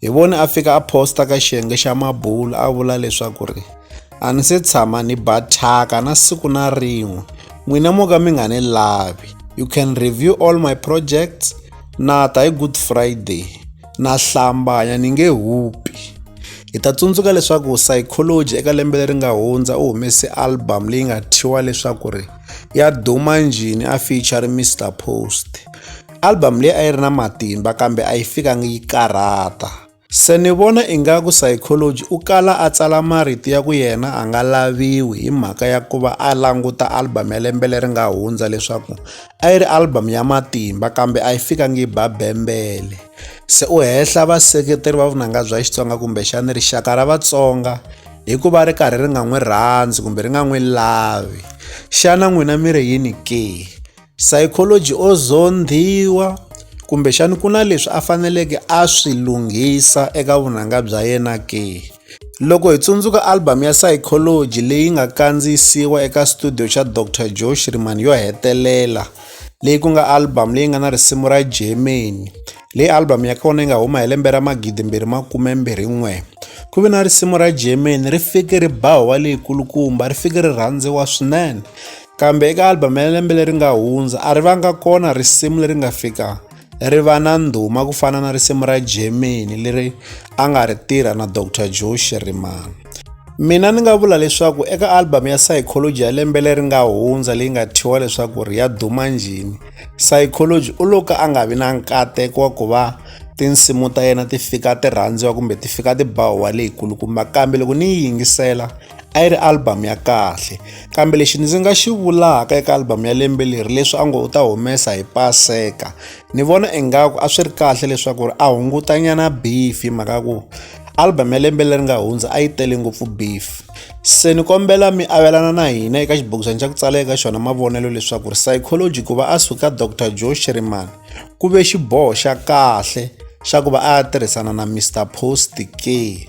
Hi vone a fika a posta ka xiyenge xa mabulo a vula leswaku ri a ni se tshama ni ba thyaka na siku na rin'we n'wina mo ka mi nga ni lavi you can review all my projects na ta hi good friday na hlambanya ni nge hupi hi ta tsundzuka leswaku psychology eka lembe leri nga hundza u humese album leyi nga thyiwa leswaku ri ya duma njhini a feature mr post Album leyi a yi ri na matimba kambe a yi fikangi yi karhata. Se ni vona ingaku Psychology u kala a tsala marito ya ku yena a nga laviwi hi mhaka ya ku va a languta album ya lembe leri nga hundza leswaku a yi ri album ya matimba kambe a yi fikangi yi ba bembele. Se u hehla vaseketeri va vunanga bya Xitsonga kumbexana rixaka ra Vatsonga hi ku va ri karhi ri nga n'wi rhandzi kumbe ri nga n'wi lavi. Xana n'wina mi ri yini ke? Psychology o zondhiwa kumbexana ku na leswi a faneleke a swi lunghisa eka vunanga bya yena ke? Loko hi tsundzuka album ya Psychology leyi nga kandziyisiwa eka studio xa Doctor Joe Shirimani yo hetelela leyi ku nga album leyi nga na risimu ra Germany leyi album ya kona yi nga huma hi lembe ra magidi mbirhi makume mbirhi n'we ku ve na risimu ra Germany ri fike ri ba huwa leyi kulukumba ri fike ri rhandziwa swinene. Kambe eka album ya lembe leri nga hundza a ri vanga kona risimu leri nga fika ri va na ndhuma ku fana na risimu ra Germany leri a nga ri tirha na Dr. Joe Shirimani. Mina ni nga vula leswaku eka album ya Psychology ya lembe leri nga hundza leyi nga thyiwa leswaku ri ya duma njhini, Psychology u lo ka a nga vi na nkateko wa ku va tinsimu ta yena ti fika ti rhandziwa kumbe ti fika ti ba huwa leyikulukumba kambe loko ni yi yingisela a yi ri album ya kahle kambe lexi ndzi nga xi vulaka eka album ya lembe leri leswi a ngo u ta humesa hi paseka ni vona ingaku a swi ri kahle leswaku ri a hungutanyana beef hi mhaka ku album ya lembe leri nga hundza a yi tele ngopfu beef se ni kombela mi avelana na hina eka xibokisana xa ku tsala eka xona mavonelo leswaku ri psychology ku va a suka dr joe shiriman ku ve xiboho xa kahle xa ku va a ya tirhisana na mr post ke